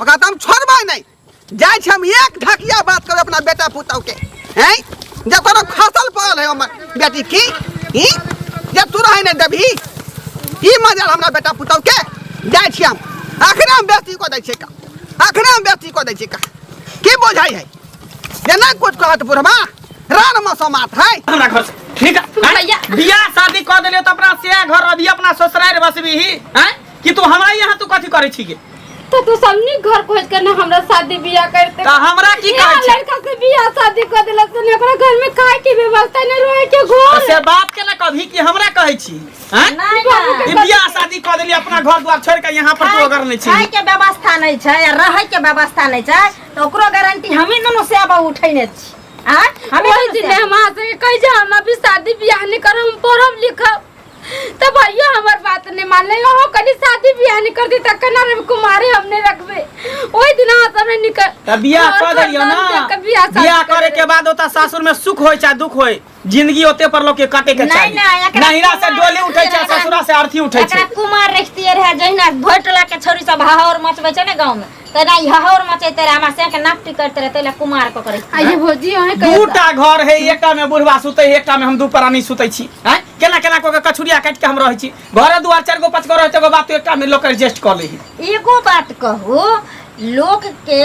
ओकरा तऽ हम छोड़बै नहि जाइ छी हम एक ढकिया बात करब अपना बेटा पुतहु के हैं जे कोनो फसल पड़ल है हमर बेटी की ई जे तू रहै नहि देबही ई मजा हमरा बेटा पुतहु के जाइ छी हम अखने हम बेटी को दै छियै का अखने हम बेटी को दै छियै का की बुझाइ है जे नहि कुछ कहत बुढ़बा रान मसोमात है हमरा घर से ठीक है भैया। बियाह शादी कऽ देलियो तऽ अपना से घर अभी अपना ससुरारि बसबी ही हैं कि तू हमरा यहाँ तू कथी करे छी गे तो तू सबनी घर खोज के ना हमरा शादी बियाह करते त हमरा की यहाँ कहै छी लड़का से बियाह शादी कर देलक तो ओकरा घर में काहे की व्यवस्था नहीं रहे के घर से बाप के ना कभी कि हमरा कहै छी हैं नहीं ना ई बियाह शादी कऽ देली अपना घर द्वार छोड़ के यहाँ पर तू अगर नहीं खाए छी के व्यवस्था नहीं छै या रहे के व्यवस्था नहीं छै तो ओकरो गारंटी हमें दोनों से अब उठैने छी आ हमें ओही दोनों दिन से- हम अहाँ से कहि जे हम अभी शादी बियाह नहीं करब हम पढ़ब लिखब तब भैया हमार बात नहीं मान ले हो कनी शादी ब्याह नहीं कर दी तक कना रे कुमारी हमने रखबे ओई दिन हाथ हमने निकल त बियाह घर कर देलियो ना खानदान के बियाह शादी बियाह करे करे। के बाद ओता सासुर में सुख होय चाहे दुख होय जिंदगी ओते पर लोग के काटे के नहीं, चाही नहीं, एकरा नहिरा से कुमार डोली उठै छै रहै। ससुरा से अर्थी उठै एकरा छै कुमार रखतिए रहे जहिना भोटला के छोरी सब हाहौर मचबै छै ने गांव में तेना ई हहौर मचैते रहे हमरा से के नाक टिकट रहे तैला कुमार को करे आ ये भौजी अहे कहियो दूटा घर है एकटा में बुढ़वा सुते है, एकटा में हम दू प्राणी सुते छी हैं केना केना को के कछुरिया काट के हम रहै छी घरे दुआर चार गो पांच गो रहते गो बात एकटा में लोग एडजस्ट कर लै है एगो बात कहू लोक के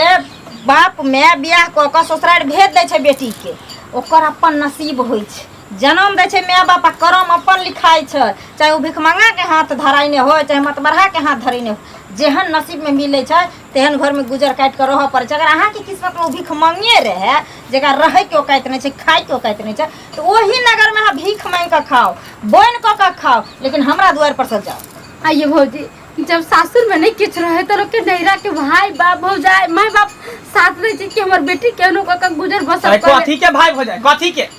बाप माय बियाह कऽ कऽ ससुरारि भेज दै छै बेटी के ओकर अपन नसीब होइ छै जनम दै छै माय बाप आ करम अपन लिखाइ छै चाहे ओ भिखमंगाके हाथ धराइने होइ चाहे मतबरहाके हाथ धरेने होइ जेहन नसीबमे मिलै छै तेहन घरमे गुजर काटि कऽ रहऽ पड़ै छै अगर अहाँके किस्मतमे ओ भिखमंगे रहै जकरा रहैके औकाइत नहि छै खाइके औकाइत नहि छै तऽ ओही नगरमे अहाँ भीख मांगि कऽ खाउ बोनि कऽ कऽ खाउ लेकिन हमरा दुआरि पर से जाउ आ ये भौजी जब सासुर में नहीं किछ रहे तो लोग के नैरा के भाई बाप भौजाई माय बाप साथ रहे छै कि हमर बेटी केहनो कऽ के गुजर बसर अरे करे कथी के भाय भौजाई कथी के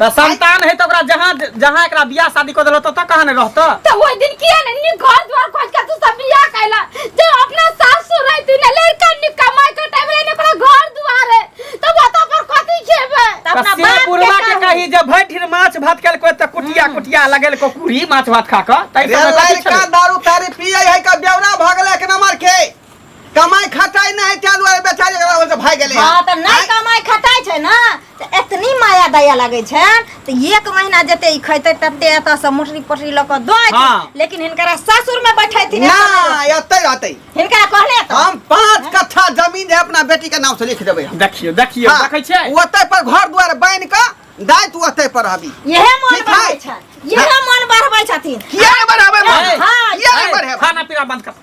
त संतान है त ओकरा जहां जहां एकरा बियाह शादी क देलो त त कहां ने रहतो त ओइ दिन किया ने नि घर द्वार खोज के तू सब बियाह कैला जे अपना सासुर रही तू ने लड़का नि कमाई के टाइम रे ओकरा घर द्वार है त बता पर कथि खेबे त अपना बाप के पुरवा के कही जे भैठिर माछ भात कैल को त कुटिया हम्म। कुटिया लगेल को कुरी माछ भात खा क तै समय कथि छले का दारू तारी पियै है का बेवरा भगले के नमर के कमाई खटाई नहीं है तेल वाले बेचारी एकरा वजह से भाग गेले हाँ तऽ नहि आँय? कमाइ खटाइ छै ने तऽ एतनी माया दया लगै छै तऽ एक महीना जेते ई खैते तते एतऽ से मोटरी पोटरी लऽ कऽ दऽ अयथिन। हाँ। लेकिन हिनकरा सासुर में बैठेथिन एतऽ नहि ना रहथिन। एतै रहतै हिनकरा कहने तऽ हम पांच कट्ठा जमीन है अपना बेटी के नाम से लिख देबै हम देखियो देखियो हाँ, देखै छै ओतै पर घर दुआर बांधि कऽ दाइ तू ओतै पर रहबी इहे मन ठीक बढ़ै है। छनि इहे मन बढ़बै छथिन किया नहि बढ़ाबै ए, हाँ, किया नहि ए, बढ़ाबै खाना पीना बंद कर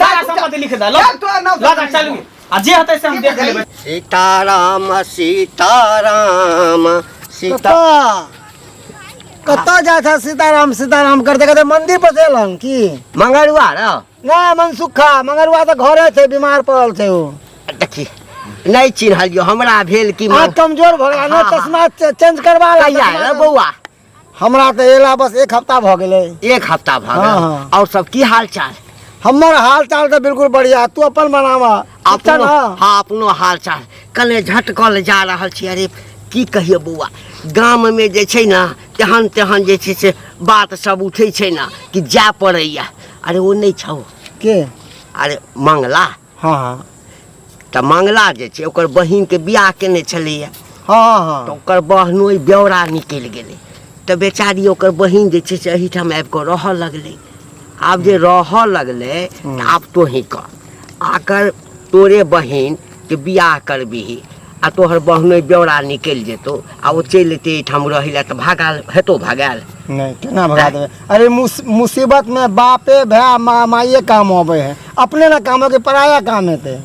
जा जा सम्मति लिख दे लो चल तोरा नाम लो जा चल आ जे हते से हम देख लेबै सीताराम सीताराम सीता कतऽ कतऽ जाइ छ सीताराम सीताराम करते करते मन्दिर पर चल हम की मंगरुआ र नहि मन सुखा मगरुआ तऽ घरे छै बीमार पड़ल छै ओ देखी नहि चिन्हलियो हमरा भेल कि आ कमजोर भऽ गेल ने हाँ, हाँ। चश्मा च- चेंज करबा ला कहिया चश्मा रे बौआ हमरा तऽ एला बस एक हफ्ता भऽ गेलै एक हफ्ता भऽ गेल हाँ, हाँ। और सब की हाल चाल हमर हाल चाल तऽ बिल्कुल बढ़िया तू अपन बनावा ठीक छै अपनो ने हाँ अपनो हाल चाल कने झटकल जा रहल छी अरे की कहिए बौआ गाम में जे छै ने तेहन तेहन जे छै से बात सब उठै छै ने कि जाय पड़ैया अरे ओ नहि छौ के अरे मंगला हँ हँ तऽ मंगला जे छै ओकर बहिनके बियाह केने छलैया हँ हँ तऽ ओकर बहनोइ ब्यौरा निकलि गेलै तऽ बेचारी ओकर बहिन जे छै से एहिठाम आबि कऽ रहऽ लगलै आब जे रहऽ लगलै तऽ आब तोही कह आकर तोरे बहिनके बियाह करबिही आ तोहर बहनोइ ब्यौरा निकलि जेतौ आ ओ चलि एतै एहिठाम रहै लए तऽ भगाल हेतौ भगाल नहि केना भगा देबै अरे मुस- मुसीबत में बापे भाय माँ माइये काम अबै है अपने ना काम हो कि पराया काम हेतै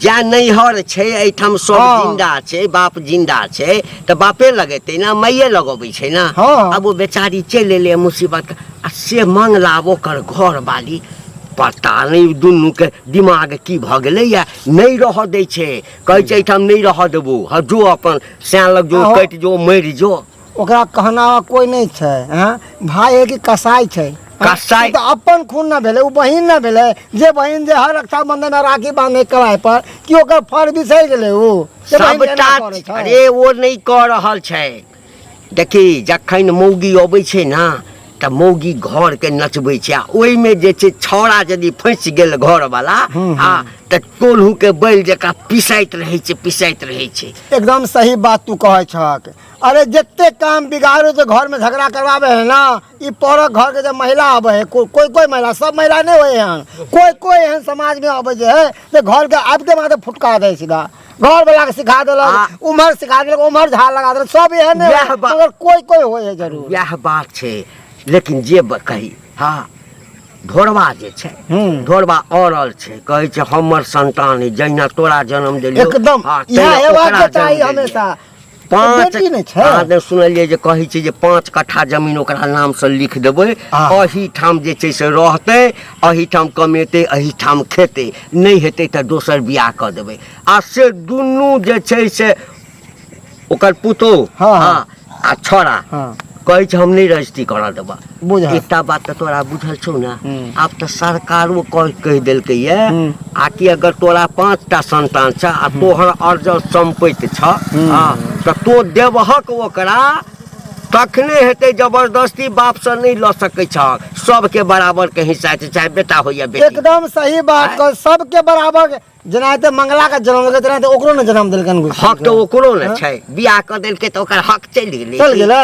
जा नैहर छै एहिठाम सब हँ। जिंदा छै बाप जिंदा छै तऽ बापे लगेतै ने माइये लगबै छै ने हँ। आब ओ बेचारी चलि एलै मुसीबत के आ से मंगला आब ओकर घर वाली पता नहि दुनू के दिमाग की भऽ गेलैया नहि रहऽ दै छै कहै छै एहिठाम नहि रहऽ देबू हँ जो अपन सैन लग जो आहो। कटि जो मरि जो ओकरा कहना कोई नहीं छै हैं भाई है कि कसाई छै हैं? कसाई। ई तऽ अपन खून न भेलै ओ बहिन न भेलै जे बहिन जे हर रक्षाबंधन में राखी बांधे कलाई पर कि ओकर फर बिसरि गेलै ओ जे बहिन के एना सबटा करै छै। अरे ओ नहि कऽ रहल छै देखी जखन मौगी अबै छै ने तऽ मौगी घर के नचबै छै आ ओहिमे जे छै छौड़ा यदि फँसि गेल घर वाला आ तऽ टोलहू के बैल जकाँ पिसाइत रहै छै पिसाइत रहै छै एकदम सही बात तू कहै छक अरे जते काम बिगाड़ो तो घर में झगड़ा करवावे है ना ई पौरक घर के जब महिला आवे है को, कोई कोई महिला सब महिला नहीं होए हैं कोई कोई एहन समाज में आवे जे है जे घर के आब के माथे फुटका दे सीधा घर वाला के सिखा आ- देलक उम्हर सिखा देलक उम्हर झाड़ लगा देलक सब एहन ने वएह बा- मगर कोई कोई होय है जरूर यह बात छै लेकिन जे ब- कही हाँ ढोरबा जे छै हम्म। ढोरबा औरल छै कहै छै हमर संतान ई जहिना तोरा जन्म देलियो एकदम हाँ, इएह तहिना हेबाक ओकरा के चाही जन्म देलियो। हमेशा तऽ पाँच बेटी नहि छै अहाँ ने सुनलियै जे कहै छै जे पाँच कट्ठा जमीन ओकरा नामसँ लिख देबै आह। एहिठाम जे छै से रहतै एहिठाम कमेतै एहिठाम खेतै नहि हेतै तऽ दोसर बियाह कऽ देबै आ से दुनू जे छै से ओकर पुतोह हँ, हँ। आ छोड़ा हँ कहै छै हम नहि रजिस्ट्री करा देबा बुझल। एकटा बात तऽ तोरा बुझल छौ ने हूँ। आब तऽ सरकारो कह- कहि देलकै ये हूँ। आ कि अगर तोरा पाँच टा संतान छ आ तोहर अर्जल सम्पत्ति छ हूँ। हँ, तऽ तो देबहक ओकरा तखने हेतै जबरदस्ती बापसँ नहि लऽ सकै छहक सबके बराबरके हिस्सा छै चाहे बेटा हो या बेटी एकदम सही बात कह सबके बराबर जेना एते मंगला के जन्म देलकै तेना ओकरो ने जन्म देलकै ने हक तऽ ओकरो ने छै बियाह कऽ देलकै तऽ ओकर हक चलि गेलै चलि गेलै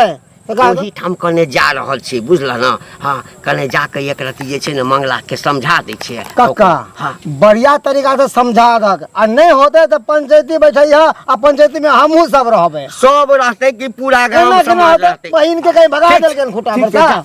ओही ठाम कने जा रहल छी बुझलह ने हाँ कने जाके एक रति जे छै ने मंगला के समझा दै छियै कक्का हाँ बढ़िया तरीका से समझा दक आ नहि होते तऽ पंचायती बैठै है आ पंचायती में हमहू सब रहबे सब रहते कि पूरा गांव समाज रहते बहिन के कहीं भगा देलकै खुटा पर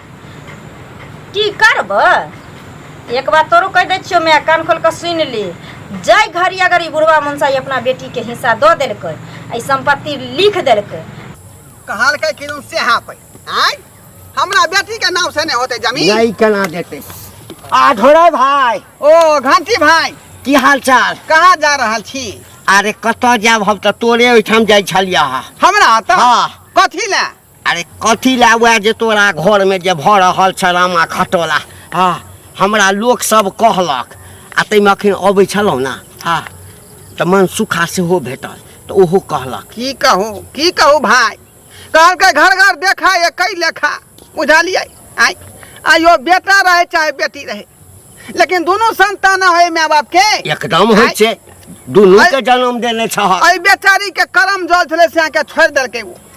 की करबै एक बात तोरो कहि दै छियौ माय कान खोल कऽ सुनि ली जाय घड़ी अगर ई बुढ़वा मनसाई अपना बेटीके हिस्सा दऽ देलकै ई सम्पत्ति लिख देलकै कहलकै कि से सएह पै आय हमरा बेटीके नाम से नहि होतै जमीन नहीं कना देते आ ढोरे भाई ओ घंटी भाई की हाल चाल कहाँ जा रहल छी अरे कतऽ जायब हम तऽ तोरे ओहिठाम जाइ छलियै हँ हमरा तऽ हाँ। कथी लए अरे कथी लए वएह जे तोरा घरमे जे भऽ रहल छलामा खटोला हँ हमरा लोकसभ कहलक आ ताहिमे अखन अबै छलहुँ ने हँ तऽ मन सुखा सेहो भेटल तऽ ओहो कहलक की कहू की कहू भाय कहलकै घर घर देखा ये कई लेखा बुझलियै आय आयो बेटा रहे चाहे बेटी रहे लेकिन दोनों संतान होय माय बाप के एकदम होइ आय, छै दुनूके जन्म देने छह एहि बेचारी के करम जल छलै से अहाँके छोड़ि देलकै ओ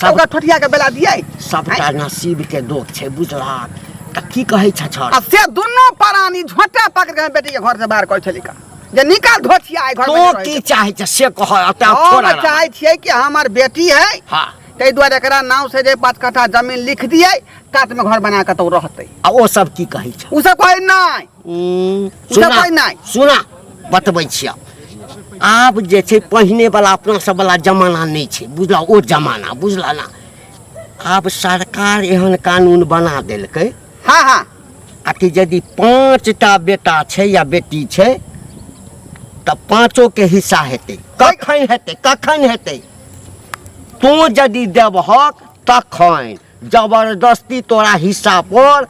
सब ओकर ठठिया के बेला दियै सबटा नसीब के दोष छै बुझलक तऽ की कहै छ छर आ से दुनू परानी झोटा पकड़ के बेटी के घर से बाहर करै छलिका जे निकाल धोछिया आइ घर तो में की चाहै छ से कह अतः हम थोड़ा चाहै छियै कि हमर बेटी है हां ताहि दुआरे एकरा नाम से जे पाँच कट्ठा जमीन लिख दियै कात में घर बना के तो रहतै आ ओ सब की कहै छ उ सब कहै नहि देबै नहि सुना बतबै छियै आब जे छै पहिनेवला अपनासभवला जमाना नहि छै बुझलऽ ओ जमाना बुझलऽ ने आब सरकार एहन कानून बना देलकै हाँ हाँ आ कि यदि पाँचटा बेटा छै या बेटी छै तऽ पाँचोके हिस्सा हेतै कखन हेतै कखन हेतै तू यदि देबहक तखन जबरदस्ती तोरा हिस्सा पर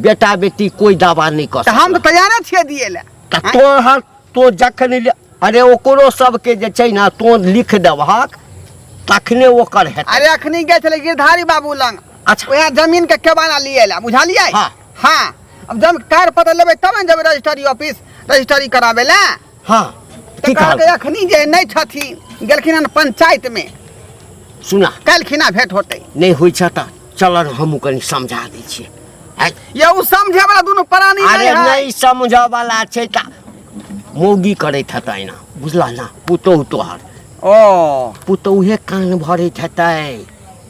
बेटा बेटी कोई दावा नहीं कर तऽ हम तऽ तैयारे छियै दिए लए तऽ तो हर तो जखन ले- अरे ओकरो सबके जे छै ने तो लिख देबहक तखने ओकर हेतै अरे अखनी गए छलै गिरधारी बाबू लग अच्छा वएह जमीन के केबाना लिए ला बुझलियै हाँ। हाँ अब जब कार पता लेबै तब ने जेबै रजिस्ट्री ऑफिस रजिस्ट्री कराबै लए हाँ की तऽ कहलकै कहल अखनी जे नहि छथिन गेलखिन हन पंचायत में सुना काल्हिखिना भेंट होतै नहीं हुई छ त चल न हमू कनी समझा दै छियै आय, ये उ समझे वाला दुनू प्राणी अरे नहीं है नहीं समझ वाला छै त मौगी करैत हेतै ना बुझला ना पुतोहु तोहर ओ पुतोहु हे कान भरैत हेतै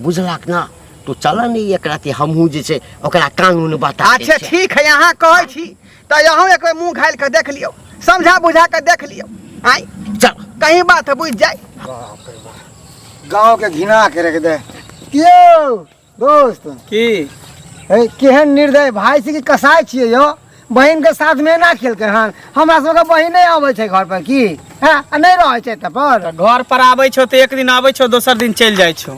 बुझलक ना तू चल ने एक राति हमहूँ जे छै ओकरा कानून बता दै अच्छा छियै। ठीक है यहाँ कहै छी तऽ अहूँ एक बेर मुँह घालि कऽ देख लियौ समझा बुझा कऽ देख लियौ आइ चल कहीं बात बुझि जाय बाप रे बाप गाँव के घिना के रख दे यौ दोस्त की ए, केहन निर्दय भाय छी कि कसाय छियै यौ बहिन के साथ में ना खेलके हन हमरा सबके बहिन नहीं आबै छै घर पर की हाँ, आ नहीं रहै छै एतऽ पर घर पर आबै छौ तऽ एक दिन आबै छौ दोसर दिन चलि जाइ छौ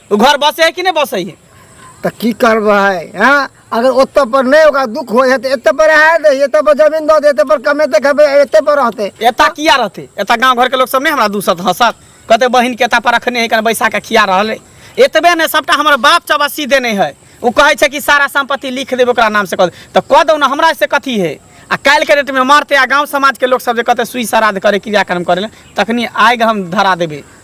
ओ घर बसे है कि नहीं बसे है तऽ की करबै हँ अगर ओतऽ पर नहि ओकरा दुख होइ है तऽ एतऽ पर आए दे एतऽ पर जमीन दऽ दे एतऽ पर कमेतै खेबै एतऽ पर रहतै एता किया रहते एता गांव घर के लोग सब नहीं हमरा दूसत हंसत कहते बहिन के एता पर रखने है कने बैसा के खिया रहल है एतबे ने सबटा हमर बाप चौबसी देने है ओ कहे छै कि सारा संपत्ति लिख देबे ओकरा नाम से कह दे। तऽ कह दो ना हमरा से कथी है आ काल्हि के डेट में मारते आ गांव समाज के लोग सब जे कहते सुई श्राद्ध करे क्रियाक्रम करे ले तखनी आगि हम धरा देबे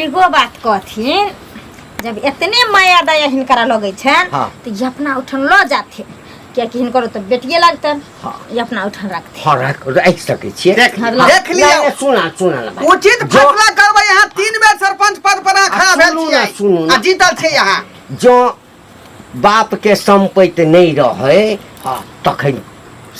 एगो बात कहथिन जब इतने माया दया हिनकरा लगे छन हाँ। तो ये अपना उठन लो जाथे कियाकि हिनकर तो बेटिए लगतन हाँ। ये अपना उठन रखते हाँ रख रख सके छिए देख हाँ, ला- देख लिया नहीं, सुना सुना ना भाई। उचित जो- फैसला करबै यहाँ तीन बेर सरपंच पद पर अहाँ खड़ा आ, भेल सुनू ना, सुनू छियै ना। आ जीतल छै यहाँ जो बापके सम्पैत नहि रहै हँ तखन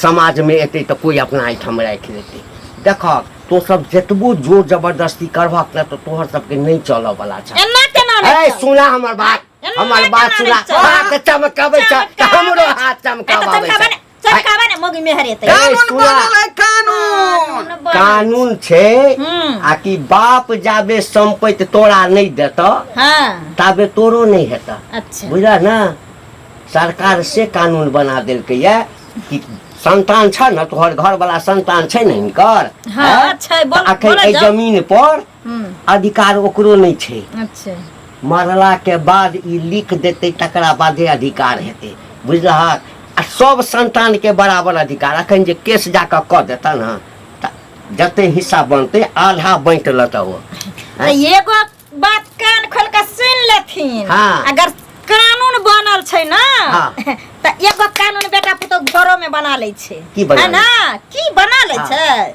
समाजमे एतै तऽ कोइ अपना एहिठाम राखि लेतै देखहक तोसभ जतबो जोर जबरदस्ती करबहक ने तऽ तोहर सभके नहि चलऽवला छह एना केना ए रहितौ? सुना हमर बात एना हमर बात केना सुना रहितौ? हाथ चमकाबै छह तऽ हमरो हाथ चमकाबै एतऽ छह चमकाबै चल काबा ने मगी में हरे तई ए, कानून सुना। बनल है कानून न बन। कानून छै हम्म। आ कि बाप जाबे संपत्ति तोरा नहि देत हां ताबे तोरो नहि हेत अच्छा बुझल ने सरकार से कानून बना देलकै या कि संतान छ ने तोहर घरवला संतान छै ने हिनकर हाँ, हैं? छै, बोल- तऽ अखन बोलऽ एहि जाउ। जमीन पर अधिकार ओकरो नहि छै। अच्छा। मरला के बाद ई लिख देतै तकरा बादे अधिकार हेतै। बुझलहक? आ सब संतान के बराबर अधिकार। अखन जे केस जा कऽ कऽ देतनि हँ तऽ जते हिस्सा बनतै आधा बाँटि लेतह ओ। तऽ एगो बात कान खोल कऽ सुनि लेथिन हाँ। अगर कानून बनल छै ना हाँ। तऽ एगो कानून बेटा पुतोह घरो में बना लै छै की बना है ना की बना लै हाँ। छै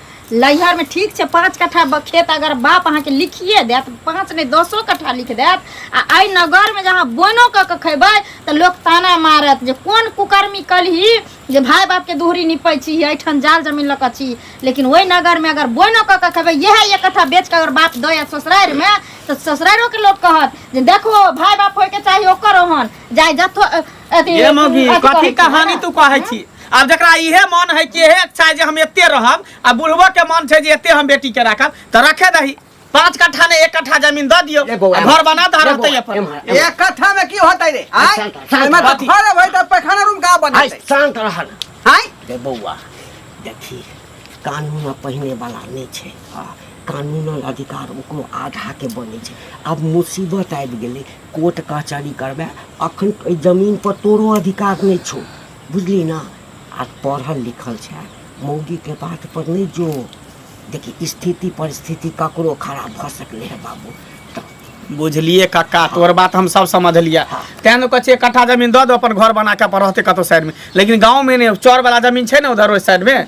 लैहरमे ठीक छै पाँच कट्ठा ब- खेत अगर बाप अहाँके लिखिए देत पाँच नहि दसो कट्ठा लिख देत आ एहि नगरमे जे अहाँ बोनो कऽ के खयबै तऽ लोक ताना मारत जे कोन कुकर्मी कलही जे भाय बापके दूहरी निपै छी एहिठाम जाल जमीन लऽ कऽ छी लेकिन ओहि नगरमे अगर बोनो कऽ के खयबै इएह एक कट्ठा बेच कऽ अगर बाप दऽ आयत ससुरारिमे तऽ ससुरारिओके लोक कहत जे देखो भाय बाप होयके चाही ओकर ओहन जाय जथो अथी ये मौगी अथी कथी करै छी, कहानी है तू कहै छी आब जकरा इहे मन है कि इहे इच्छा है जे हम एते रहब आ बुढ़बो के मन छै जे एते हम बेटी के राखब तऽ रखे दही पाँच कट्ठा ने एक कट्ठा जमीन दऽ दियौ ले बौआ, आ घर बना दऽ ले रहतै बौआ, अपन एम्हर, एम्हर। एक कट्ठा में की होता रे आय शांत रह, शांत ओइमे रह। तऽ घर होय तऽ पैखाना रूम का आइ बनतै शान्त रह न। आय रे बौआ देखी कानून पहिने वाला नहि छै हँ, कानूनन अधिकार ओकरो आधाके बनै छै आब मुसीबत आबि गेलै कोर्ट कचहरी करबै अखन एहि जमीन पर तोरो अधिकार नहि छौ बुझली ने आ पढ़ल लिखल छै मौगी के बात पर नहि जो देखी स्थिति परिस्थिति ककरो खराब भऽ सकले है बाबू तऽ बुझलिए कक्का तोर बात हम सब समझलिए हाँ। तें ने कहे कट्ठा जमीन दऽ दो अपन घर बना के अपन रहते कतौ साइड में लेकिन गाँव में ने चौर वाला जमीन छै ने उधर ओहि साइड में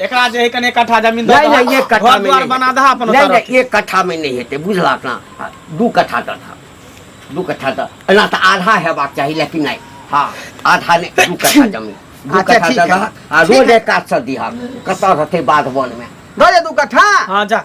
एकरा जे है कने कट्ठा जमीन दऽ नहीं नहीं एक कट्ठा घर में द्वार नहीं बना दहा अपन नहीं ओतऽ नहीं एक कट्ठा में नहीं हेतै बुझलक ना हाँ, दू कट्ठा दऽ दहा दू कट्ठा दऽ एना तऽ आधा हेबाक चाही लेकिन नहीं हाँ आधा नहीं दू कट्ठा जमीन दू अच्छा, कट्ठा ठीक दऽ है। दहा आ ठीक रोज है। एक काज से दिहा कतऽ रहतै बाध वन में दऽ दे दू कट्ठा हाँ जा